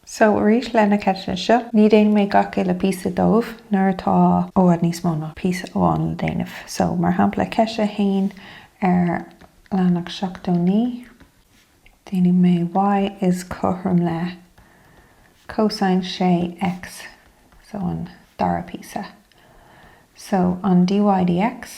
So arís le na ceisteanna seo, ní dhéanfaidh mé gach uile píosa dóibh nuair atá i bhfad níos mó ná píosa amháin le déanamh. So mar shampla ceist a haon ar leathanach 79, déanfaidh mé y is cothrom le cosine 6 x. So an dara píosa. So an dy dx.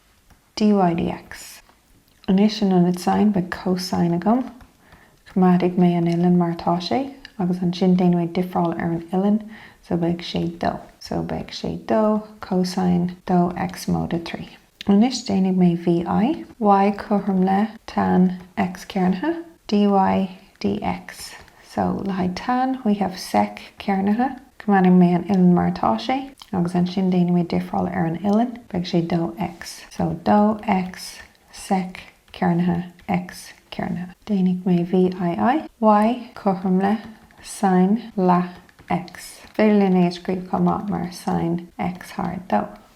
dy dx. Anois in ionad sine beidh cosine agam. Coimeádfaidh mé an uillinn mar atá sé agus ansin déanfaidh mé difreáil ar an uillinn so beidh sé dó. So beidh sé dó cosine dó X móide trí. Anois déanfaidh mé V i. Y cothrom le tan X cearnaithe dy dx. So, le haghaidh tan, we have sec, cearnaithe. Coimeádfaidh mé an uilleann mar atá sé, agus ansin déanfaidh mé difreáil ar an uilleann, beidh sé dó X. So, dó X, sec, cearnaithe, X, cearnaithe. Déanfaidh mé V I I, Y, cothrom le, sine, leath, X. Is féidir linn é a scríobh chomh maith mar sine X thar dó.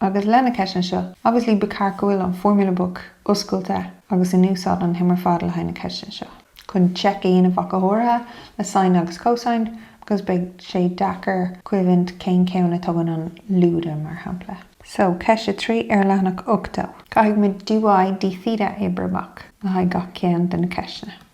Agus le na ceisteanna seo obviously ba cheart go bhfuil an Formula Book oscailte agus in úsáid an t-am ar fad le haghaidh na ceisteanna seo. chun check a dhéanamh ach go háirithe le sine agus cosine because beidh sé deacair cuimhint cén ceann a tugann an lúide mar shampla. So, ceist a trí ar leathanach 80. Caithfidh muid dy dtheta a oibriú amach le haghaidh gach ceann de na ceisteanna.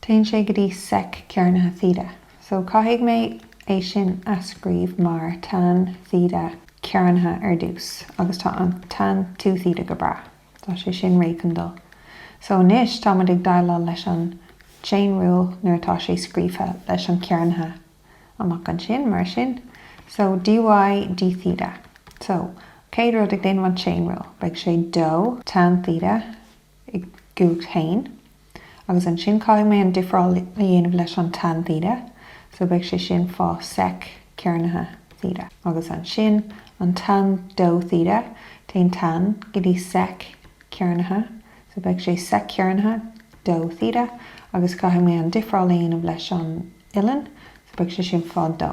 Téann sé go dtí sec cearnaithe theta. So caithfidh mé é sin a scríobh mar tan theta cearnaithe ar dtús agus tá an tan two theta go breá. Tá sé sin réidh chun dul. So anois tá muid ag deighleáil leis an chain rule nuair atá sé scríofa leis an cearnaithe amach ansin mar sin. So dy d theta. So chéad rud ag déanamh an chain rule beidh sé dó tan theta i gcumhacht a haon agus ansin caithfidh mé an difreáil a dhéanamh leis an tan theta so beidh sé sin fá sec cearnaithe theta agus ansin an tan dó theta téann tan go dtí sec cearnaithe so beidh sé sec cearnaithe dó theta agus caithfidh mé an difreáil a dhéanamh leis an uilleann so beidh sé sin fá dó.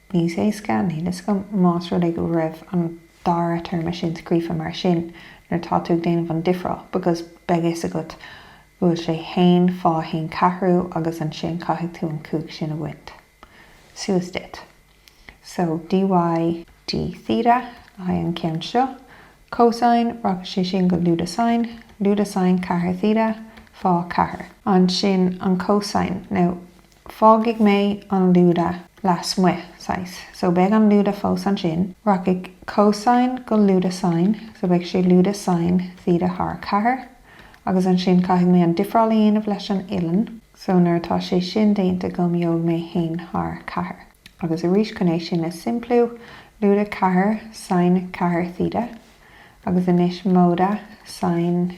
Níos éasca níl fhios agam más rud é go raibh an dara téarma sin scríofa mar sin nuair atá tú ag déanamh an difreáil because beidh fhios agat go bhfuil sé haon fá haon ceathrú agus ansin caithfidh tú an cúig sin a bhaint suas duit. So dy d theta le haghaidh an ceann seo. Cosine, rachaidh sé sin go lúide sine, lúide sine ceathair theta fá ceathair. Ansin an cosine, now Fágfaidh mé an lúide lasmuigh, saghas, so beidh an lúide fós ansin. Rachaidh cosine go lúide sine, so beidh sé lúide sine theta thar ceathair. Agus ansin caithfidh mé an difreáil a dhéanamh leis an uillinn, so nuair atá sé sin déanta agam gheobhaidh mé a haon thar ceathair. Agus arís chun é sin a simpliú, lúide ceathair sine ceathair theta, agus anois móide sine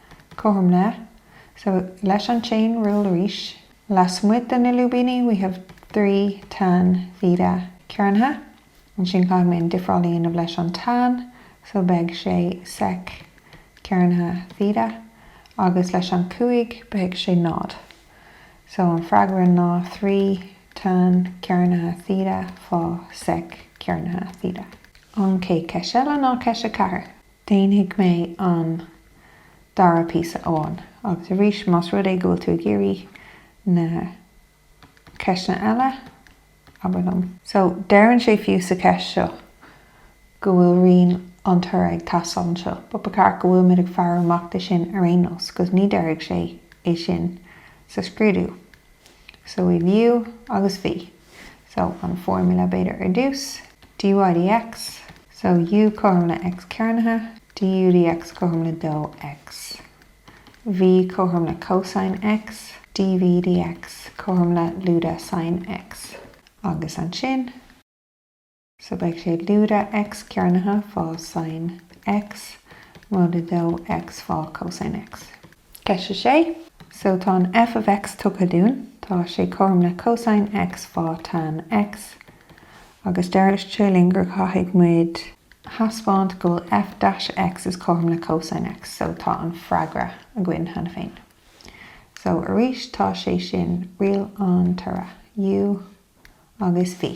cothrom le. So, leis an chain rule arís, lasmuigh de na lúibíní we have three tan theta cearnaithe. Ansin caithfidh mé an difreáil a dhéanamh leis an tan, so beidh sé sec cearnaithe theta, agus leis an chúig beidh sé náid. So, an freagra ná trí tan cearnaithe theta fá sec cearnaithe theta. An chéad cheist eile ná ceist a ceathair. Déanfaidh mé an dara píosa amháin. Agus arís, más rud é go bhfuil tú ag iarraidh na ceisteanna eile, abair liom. So, deireann sé fiú sa cheist seo go bhfuil riail an toraidh ag teastáil anseo, but ba cheart go bhfuilimid ag faire amach de sin ar aon nós, 'cause ní deirfidh sé é sin sa scrúdú. So we've u agus v. So an formula b'fhéidir ar dtús, dy dx, so u cothrom le x cearnaithe, du dx cothrom le 2x. V cothrom le cosine x, dv dx cothrom le lúide sine x. Agus ansin. So beidh sé lúide X cearnaithe fá sine X móide 2 X fá cosine X. Ceist a 6 So tá an f of X tugtha dúinn, tá sé cothrom le cosine X fá tan X, agus deir sé linn gur caithfidh muid thaispeáint go bhfuil f dash X is cothrom le cosine X, so tá an freagra againn cheana féin. So arís tá sé sin riail an toraidh, U agus V.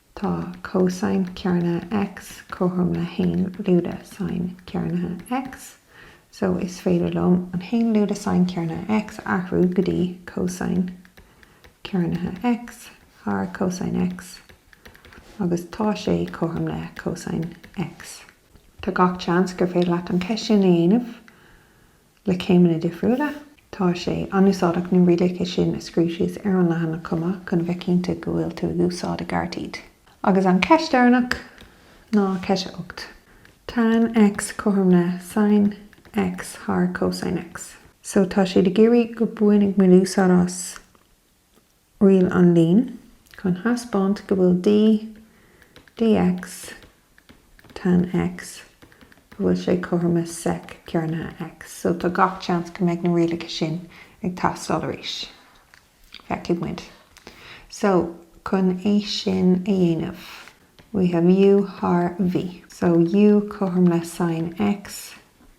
Tá cosine cearnaithe X cothrom le haon lúide sine cearnaithe X, so is féidir liom an haon lúide sine cearnaithe X a athrú go dtí cosine cearnaithe X thar cosine X agus tá sé cothrom le cosine X. Tá gach seans gur féidir leat an ceist sin a dhéanamh. le céimeanna difriúla. Tá sé an-úsáideach na rialacha sin a scríobh síos ar an leathanach chomh maith chun a bheith cinnte go bhfuil tú ag úsáid i gceart iad. Agus an cheist deireanach ná ceist a hocht. Tan X cothrom le Sine X thar Cosine X. So tá siad ag iarraidh go mbainfidh muid úsáid as. Riail an lín chun thaispeáint go bhfuil D, dx, tan X, go bhfuil sé cothrom le sec cearnaithe X. So tá gach chance go mbeidh na rialacha sin ag teastáil arís. Feicfidh muid. So, chun é sin a dhéanamh, we have U thar V. So, U cothrom le sin X.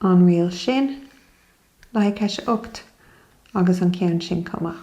an riail sin, le haghaidh ceist 8 agus an ceann sin chomh maith.